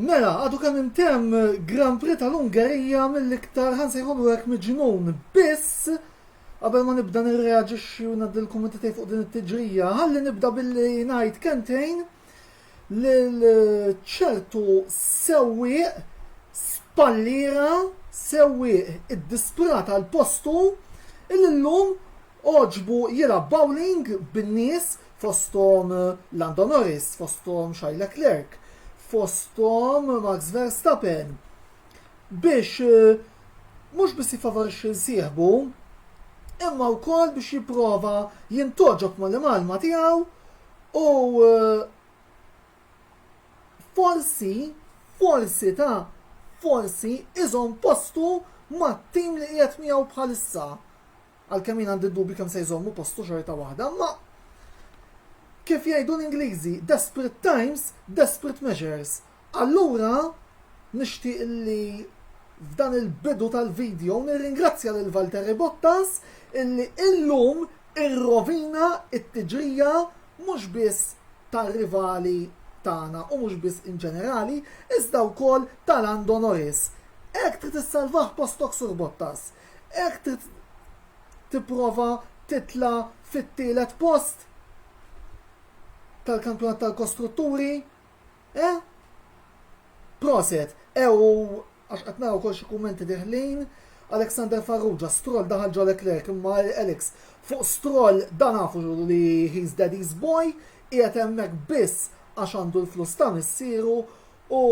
Mela, għadu kemm intemm Grand Prix tal-Ungerija mill-iktar ħansejħulu hekk miġnun. Biss, qabel ma nibda nirreaġixxi u ngħaddi l-kummenti tiegħi fuq din it-tiġrija, ħalli nibda billi ngħid kentejn lil ċertu sewwieq spallira sewwieq iddisprata l-postu illum oġbu jilgħab bowling bin-nies fosthom Lando Norris, fosthom Charles Leclerc, fosthom Max Verstappen biex eh, mhux biss jifavorixxi nsieħbu imma wkoll biex jipprova jintoġob mal-imalma tiegħu u eh, forsi forsi ta' forsi iżom postu mat-tim li qiegħed miegħu bħalissa. Għalkemm jien għandi d-dubju kemm se jżommu postu xorta waħda, imma kif jgħidu l-Ingliżi, desperate times, desperate measures. Allura nixtieq li f'dan il-bidu tal-video nirringrazzja lil Valtteri Bottas illi illum irrovina it-tiġrija mhux biss tar-rivali tagħna u mhux biss in ġenerali, iżda wkoll ta' Lando Norris. Hekk trid issalvah postok sur Bottas. Hekk trid tipprova titla' fit-tielet post tal-kampjonat tal-kostrutturi? Eh? Proset, ew għax qed nara wkoll xi kummenti deħlin. Alexander Farrugia, Stroll daħal ġo Leclerc imma Alex, fuq Stroll da nafu li he's daddy's boy, qiegħed hemmhekk biss għax għandu l-flus ta' missieru u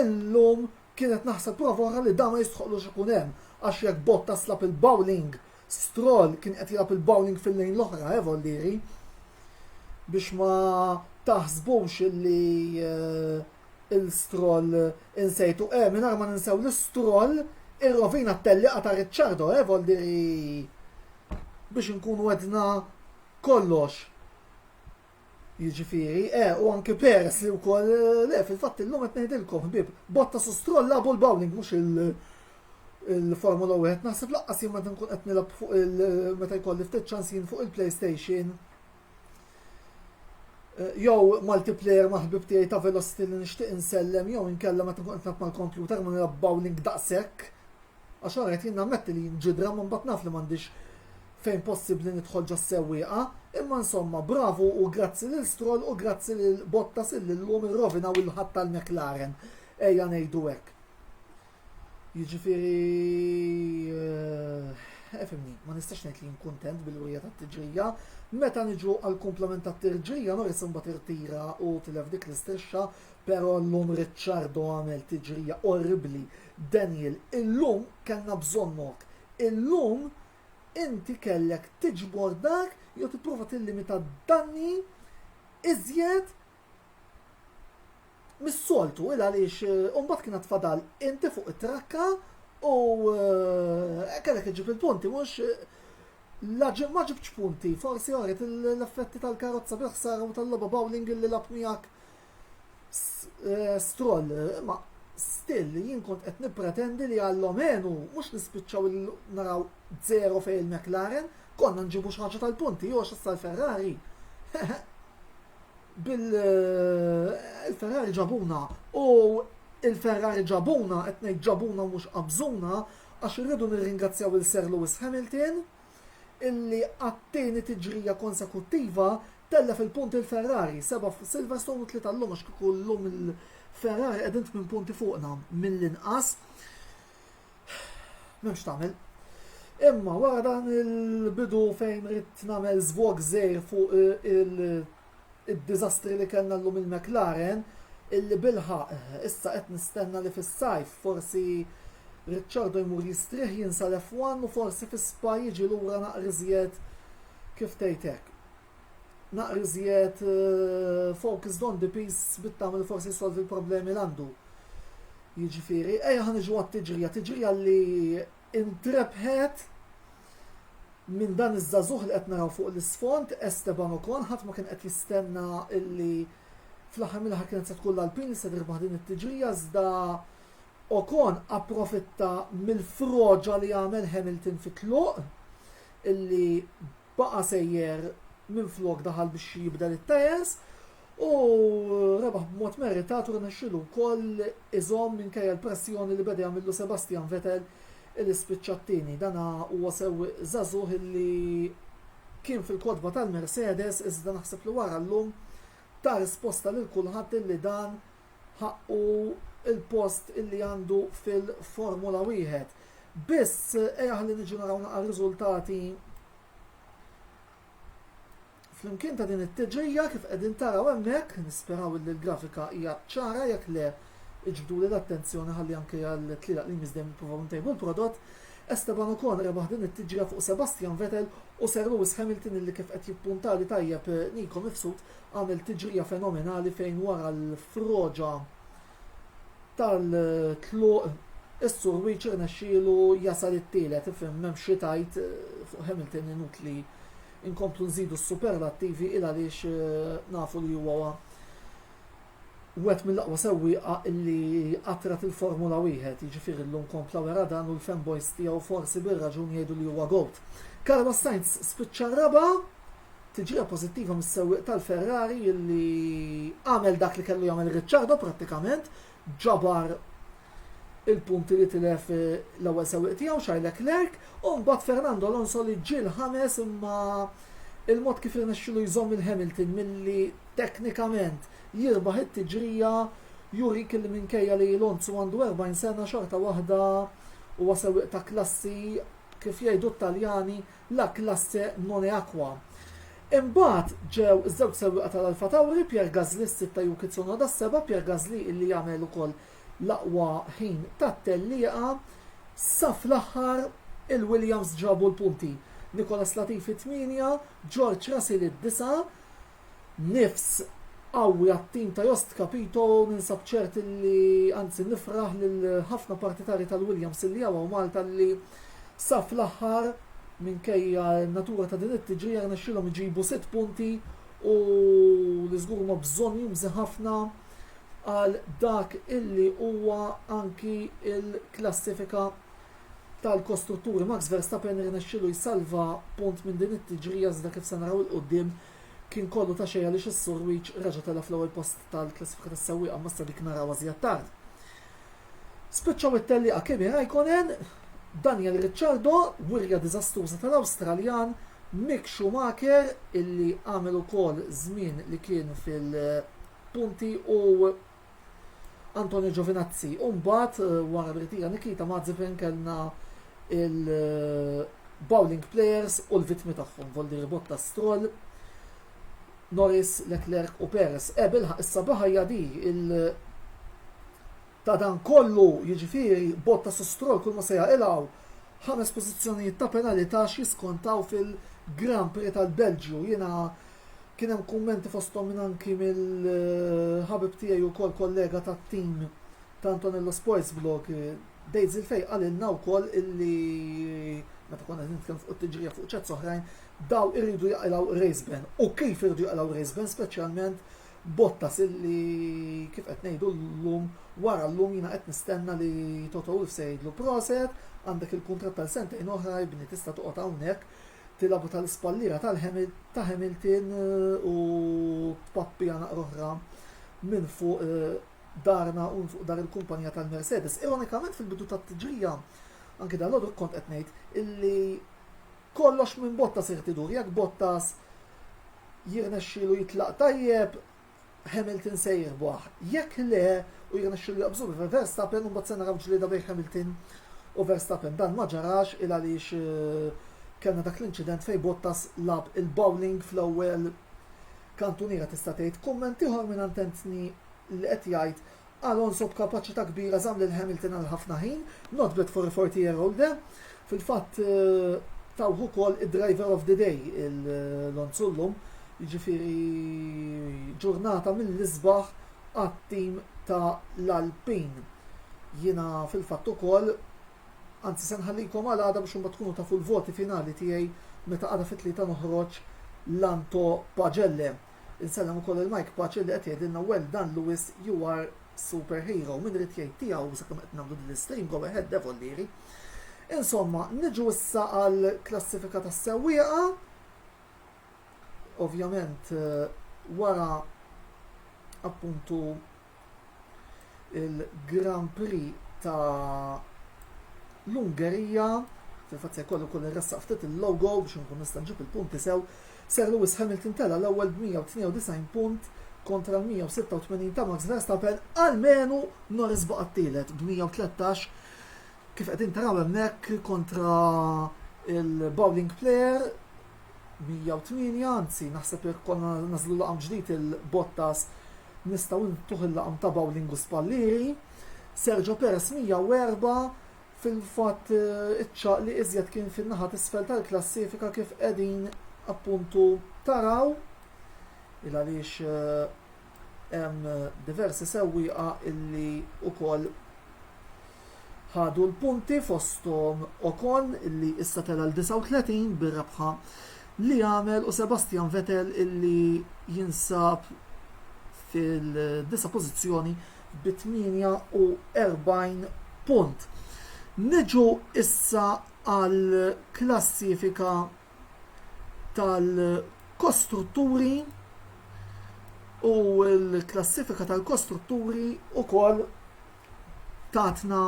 illum Kien qed naħseb prova oħra li dan ma jistħoqqlux ikun hemm għax jekk Bottas lagħab il-bowling, Stroll kien qed jilgħab il-bowling fil-lane l-oħra, eh Vollieri? Biex ma taħsbux illi lil Stroll insejtu, eh mingħajr ma ninsew li Stroll irrovina t-tellieqa ta' Ricciardo, eh Vollieri? Biex inkunu għedna kollox. Jiġifieri, e, u anke peres li wkoll le, fil-fatt illum qed ngħidilkom ħbieb, Bottas u Stroll lagħbu l-bowling mhux il- il-Formula 1 naħseb laqqas jien meta nkun qed nilgħab fuq il meta jkolli ftit ċans jien fuq il-PlayStation. Eh, jew multiplayer ma' ħbib tiegħi ta' Velocity li nixtieq insellem jew inkella meta nkun qed nilgħab mal-kompjuter ma nilgħab bowling daqshekk. Għax hawn qed jien nammetti li nġidra ma mbagħad naf li m'għandix fejn possibbli nidħol ġas-sewwieqa, imma insomma bravu u grazzi lil Stroll u grazzi lil Bottas illi llum irrovinaw il-ħadd tal-McLaren, ejja ngħidu hekk. Jiġifieri efimni, eh, ma nistax ngħid li nkuntent bil-wirja tat-tiġrija, meta niġu għall-kumplament tat-tiġrija Norris imbagħad irtira u tilef dik l-istrixxa, però llum Ricciardo għamel tiġrija orribli Daniel, Illum kellna bżonnok. Illum inti kellek tiġbor dak jew tipprova tillimita d-danni iżjed mis-soltu il għaliex u mbagħad kien għad fadal inti fuq it-trakka u kellek iġib il-punti mhux la ġib ma ġibtx punti, forsi oret l-effetti tal-karozza bil-ħsara u tal-logħba bowling li lab miegħek Stroll, ma still jien kont qed nippretendi li għall-omenu mhux nispiċċaw naraw zero fejn il-McLaren, konna nġibu xi ħaġa tal-punti, jew issa l-Ferrari. Bil-Ferrari eh, ġabuna u il-Ferrari ġabuna, qed ngħid ġabuna mhux qabżuna, għax irridu nirringrazzjaw il-Sir Lewis Hamilton illi għat-tieni tiġrija konsekuttiva tellef il-punti l-Ferrari, seba' fuq Silverstone u tlieta llum għax kieku llum il-Ferrari qegħdin tmien punti fuqna mill-inqas. M'hemmx tagħmel. Imma wara dan il-bidu fejn rid nagħmel żvog żgħir fuq il- id-diżastri li kellna llum il-McLaren illi bilħaqq issa qed nistenna li fis-sajf forsi Ricciardo jmur jistrieħ jinsa l-F1 u forsi fi Spa jiġi lura naqra iżjed kif tgħid hekk naqra iżjed focused on the piece bit-tama li forsi jsolvi l-problemi li għandu. Jiġifieri, ejja ħa niġu għat-tiġrija, tiġrija li Intrebħet minn dan iż-żagħżugħ li qed naraw fuq l-isfond, Esteban Ocon, ħadd ma kien qed jistenna illi fl-aħħar mill-aħħar kienet se tkun l-Alpine li se tirbaħ din it-tiġrija iżda Ocon approfitta mill-froġa li għamel Hamilton fit-tluq illi Baqa' sejjer minflok daħal biex jibdel it-tajers u rebaħ b'mod meritat u rnexxielu wkoll iżomm minkejja l-pressjoni li beda jagħmillu Sebastian Vettel li spiċċa t-tieni. Dan huwa sewwieq żagħżugħ illi kien fil-kotba tal-Mercedes iżda naħseb li wara llum ta risposta lil kulħadd illi dan ħaqqu l-post illi għandu fil-Formula Wieħed. Biss ejja ħalli niġu naraw naqra riżultati Flimkien ta' din it-tiġrija kif qegħdin taraw hemmhekk, nisperaw li l-grafika hija ċara jekk le iġbdu li l-attenzjoni ħalli anke għal tlielaq li miżdem nippruvaw ntejbu l-prodott. Esteban Ocon rebaħ din it-tiġrija fuq Sebastian Vettel u Sir Lewis Hamilton illi kif qed jippuntali tajjeb Nico Mifsud Għamel tiġrija fenomenali fejn wara l-froġa tal-tluq is-Surwiċ irnexxielu jasal it-tielet, ifhem m'hemmx xi tgħid fuq Hamilton inutli inkomplu nżidu s-superlattivi il għaliex nafu li huwa wieħed mill-aqwa sewwieqa li qatrat il-Formula Wieħed, jiġifieri llum kompla wera dan u l-fanboys tiegħu forsi bir-raġun jgħidu li huwa goat. Carlos Sainz spiċċa raba' Tiġrija pożittiva mis-sewwieq tal-Ferrari li għamel dak li kellu jagħmel Ricciardo prattikament ġabar il-punti li tilef eh, l-ewwel sewwieq tiegħu Charles Leclerc u mbagħad Fernando Alonso li ġiel ħames imma il-mod kif irnexxilu jżomm il-Hamilton milli teknikament jirbaħ it-tiġrija juri kelli minkejja li Lonzu għandu 40 sena xorta waħda u sewwieq ta' klassi kif jgħidu t-Taljani la Classe Moneaqua. Imbagħad ġew iż-żewġ sewwieqa tal-Alfa Tauri, Pierre Gasly s-sitta Yuki Tsunoda s-seba', Pierre Gasly illi għamel ukoll l-aqwa ħin tat-tellieqa. Sa fl-aħħar il-Williams ġabu l-punti, Nicholas Latifi t-tmienja, George Russell id-disgħa, nifs qawwi għat-tim ta' Jost Capito u ninsab ċert li anzi nifraħ lil ħafna partitarji tal-Williams li hawn Malta li sa fl-aħħar minkejja n-natura ta' din it-tiġrija rnexxielhom iġibu sitt punti u li żgur huma bżonn jumżi ħafna għal dak illi huwa anki l-klassifika tal-kostruttur Max Verstappen irnexxielu jsalva punt minn din it-tiġrija iżda kif se naraw 'il quddiem kien kollu ta' xejn għaliex is-Surwich reġa' telgħa fl-ewwel post tal-klassifika tas-sewwieqa imma issa dik narawha żjed tard. Spiċċaw it-tellieqa Kimi Raikkonen, Daniel Ricciardo, wirja diżastruża tal-Awstraljan, Mick Schumacher illi għamel ukoll żmien li kien fil-punti u Antonio Giovinazzi. U mbagħad eh, wara li tira Nikita Mazepin kellna il-bowling eh, players u l-vitmi tagħhom, voldi ribotta Stroll, Norris, Leclerc u Perez. Ebel eh, issa baħajja di il- ta' dan kollu jiġifieri botta su Stroll kull ma se jaqilgħu ħames pożizzjonijiet ta' penalità x'jiskontaw fil-Grand Prix tal-Belġju. Jiena Kien hemm kummenti fosthom minn anki mill-ħabib tiegħi wkoll kollega tat-tim ta' Antonello Sports Blog, Dejt Zilfej qalilna wkoll illi meta konna nitkellmu fuq it-tiġrija fuq ċats oħrajn, daw iridu jaqilgħu race ban. U kif iridu jaqilgħu race ban speċjalment Bottas illi kif qed ngħidu llum wara llum jiena qed nistenna li Toto Wolff se jgħidlu proset, għandek il-kuntratt tal sentejn oħra jibni tista' toqgħod hawnhekk tilgħabu tal-ispalliera ta' Hamilton u tpappija naqra oħra minn fuq eh, darna u fuq dar il-kumpanija tal-Mercedes. Ironikament fil-bidu tat-tiġrija, anke dan l kont qed ngħid illi kollox minn Bottas irtidur, jekk Bottas jirnexxilu jitlaq tajjeb, Hamilton se jirbaħ. Jekk le, u jirnexxilu jaqbżu bi Verstappen, imbagħad se naraw ġlieda bejn Hamilton u Verstappen. Dan ma ġarax il għaliex eh, kellna dak l-inċident fejn Bottas lab il-bowling fl-ewwel kantuniera tista' tgħid. Kumment ieħor minn antentni li qed jgħid Alonso b'kapaċità kbira żamm lil Hamilton għal ħafna ħin, not bad for a 40 year old there. Fil-fatt tawh ukoll id-driver of the day il-Lonzu llum, jiġifieri ġurnata mill-isbaħ għat-tim ta' l-Alpin. Jiena fil-fatt ukoll anzi se nħallikom għal għada biex imbagħad tkunu tafu l-voti finali tiegħi meta għada fit-tlieta noħroġ l-Anto Pagelle. Insellem ukoll lil Mike Pace li qed jgħidilna well done Lewis you are super hero. Min irid jgħid tiegħu sakemm qed nagħmlu din l-istream go ahead Devollieri. Insomma, niġu issa għal klassifika tas-sewwieqa. Ovvjament eh, wara appuntu il-Grand Prix ta' l-Ungerija, fil-fatt se jkollu kull irressaq ftit il-logo biex nkun nista' nġib il-punti sew, Sir Lewis Hamilton tela' l-ewwel b'192 punt kontra l-186 ta' Max Verstappen, almenu Norris baqa' t-tielet b'113 kif qegħdin taraw hemmhekk kontra il-bowling player 108, anzi naħseb jekk konna nażlu laqam ġdid il-Bottas nistgħu ntuh il-laqam ta' bowling u spallieri, Sergio Perez 104, fil-fatt iċ-ċagħaq li iżjed kien fin-naħa t'isfel tal-klassifika kif qegħdin appuntu taraw, il għaliex hemm diversi sewwieqa illi wkoll ħadu l-punti fosthom Ocon li issa tela' l-39 bir-rebħa li għamel u Sebastian Vettel li jinsab fid-disa' pożizzjoni bi 48 punt. Niġu issa għall-klassifika tal-kostrutturi u l-klassifika tal-kostrutturi wkoll tatna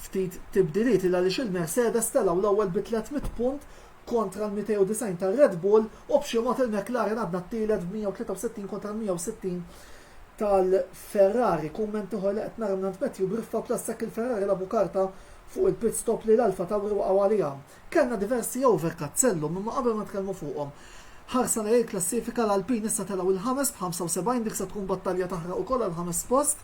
ftit tibdiliet il għaliex il-Mercedes telgħu l-ewwel bi 300 punt kontra l-290 tar-Red Bull u b'xi mod il-McLaren għadna t-tielet b'163 kontra l-160 tal-Ferrari. Kumment ieħor li qed nara mingħand Matthew Griffa bl-assekk il-Ferrari labu karta fuq il-pit stop li l-Alfa Tauri waqgħu għaliha. Kellna diversi overcut sellum imma qabel ma nitkellmu fuqhom, ħarsa lejn il-klassifika l-Alpine issa telgħu il-ħames b'75 dik se tkun battalja taħraq ukoll għall-ħames post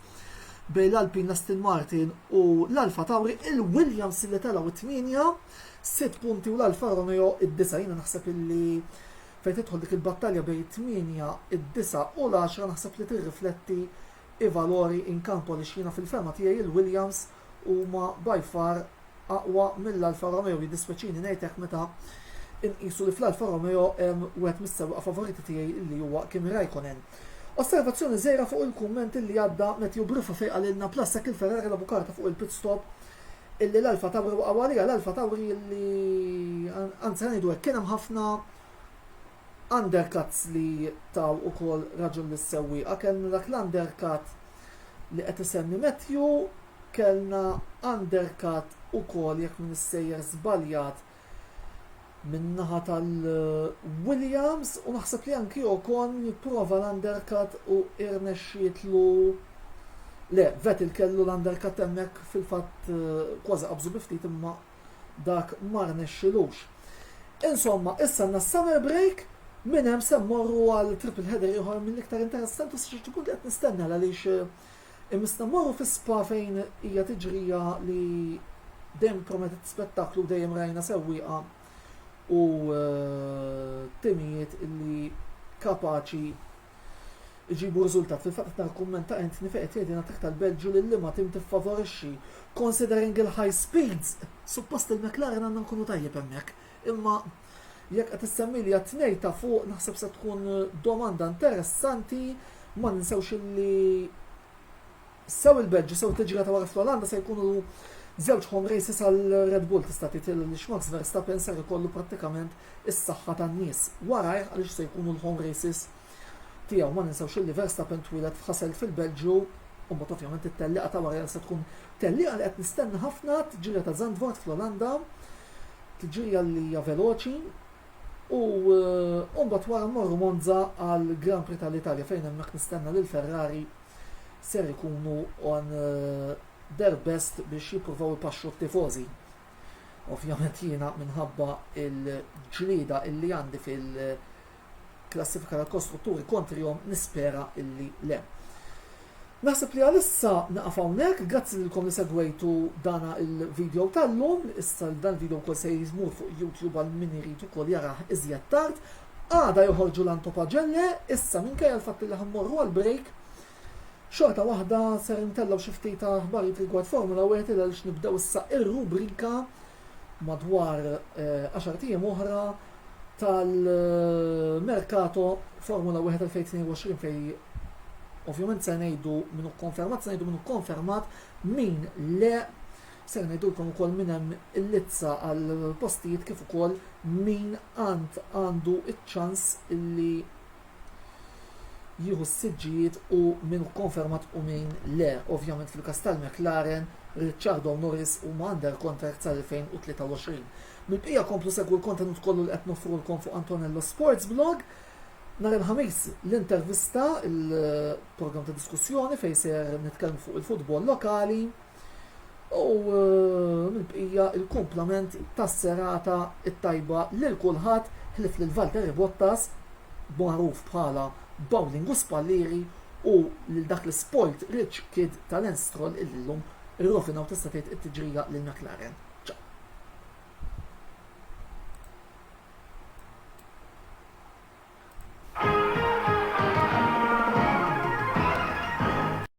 bejn l-Alpine, l-Aston Martin u l-Alfa Tauri, il-Williams li telgħu it-tmienja sitt punti u l-Alfa Romeo id-disa'. Jiena naħseb illi fejn tidħol dik il-battalja bejn it-tmienja, id-disa' u l-għaxra naħseb li tirrifletti i valori in campo għaliex jiena fil-fehma tiegħi il-Williams huma by far aqwa mill-Alfa Romeo, jiddispjaċini ngħid hekk meta inqisu li fl-Alfa Romeo hemm wieħed mis-sewwieqa favoriti tiegħi li huwa Kimi Raikkonen. Osservazzjoni żgħira fuq il-kumment illi għadda Matthew Briffa fejn qalilna plus hekk il-Ferrari labu karta fuq il-pit stop illi l-Alfa Tauri waqgħu għaliha l-Alfa Tauri illi anzi ngħidu hekk kien hemm ħafna undercuts li taw ukoll raġun lis-sewwieqa. Kellna dak l-undercut li qed isemmi Matthew, kellna undercut ukoll jekk m'iniex sejjer żbaljat min-naħa tal-Williams u naħseb li anki Ocon jipprova l-undercut u irnexxietlu Le, Vettel kellu l-undercut hemmhekk fil-fatt eh, kważi qabżu bi ftit imma dak ma rnexxilux. Insomma, issa għandna s-summer break, minn hemm se mmorru għal triple header ieħor mill-iktar interessanti sa ċertu punt li qed nistenna għaliex eh, imissna mmorru fi spa fejn hija tiġrija li dejjem prometet spettaklu dejjem rajna sewwieqa u eh, timijiet li kapaċi iġibu riżultat. Fil-fatt qed nara kumment ta' Anthony fejn qed jgħid li nagħtik tal-Belġju lil liema tim tiffavorixxi. Considering il-high speeds, suppost il-McLaren għandna nkunu tajjeb hemmhekk. Imma jekk qed issemmili għat-tnej ta' fuq naħseb se tkun domanda interessanti ma ninsewx li Sew il-Belġju, sew it-teġila ta' wara fl-Olanda se jkunu żewġ home races għal Red Bull tista' tgħid għaliex Max Verstappen ser ikollu prattikament is-saħħa tan-nies warajh għaliex se jkunu l-home races tiegħu. Ma ninsewx illi Verstappen twieled f'Hasselt fil-Belġju u mbagħad ovvjament it-tellieqa ta' wara se tkun tellieqa li qed nistenna ħafna t-tġirja ta' Zandvoort fl-Olanda, tġirja li hija veloċi u eh, mbagħad wara mmorru Monza għal Grand Prix tal-Italja fejn hemmhekk nistenna lil Ferrari ser ikunu on their best biex jippruvaw ipaxxu t-tifożi. Ovvjament jiena minħabba il-ġlieda illi għandi fil-klassifika tal-kostrutturi kontrihom nispera illi le. Naħseb li għalissa naqaf hawnhekk, grazzi lilkom li segwejtu dana il-video tal-lum, issa dan il-video wkoll se jizmur fuq YouTube għal min irid ukoll jarah iżjed tard, Għada joħorġu l-Anthopagellae, issa minkejja l-fatt li ħammorru għal break, xorta waħda ser intellgħu xi ftit aħbarijiet rigward Formula Wieħed il għaliex nibdew issa ir-rubrika madwar 10 eh, ijiem oħra tal-merkato Formula 1 2022 fej ovvjament se ngħidu minnu konfermat, se ngħidu minnu konfermat min le Ser ngħidulkom ukoll minn hemm il-lizza għall-postijiet kif ukoll min għand għandu ċ-ċans illi jieħu s-siġġijiet u min hu konfermat u min le. Ovvjament fil-każ tal-McLaren, Ricciardo Norris huma under contract sal-2023. Mill-bqija komplu segwu l-kontenut kollu li qed noffrulkom fuq Antonello Sports Blog. Nhar il-Ħamis l-intervista, il-programm ta' diskussjoni fejn ser nitkellmu fuq il-futbol lokali. U eh, mill-bqija il-kumplament tas-serata t-tajba lil kulħadd ħlif lil Valtteri Bottas magħruf bħala bowling u spallieri u lil dak l-spoilt rich kid ta' Lance Stroll illi llum irrofinaw tista' tgħid it-tiġrija lil McLaren.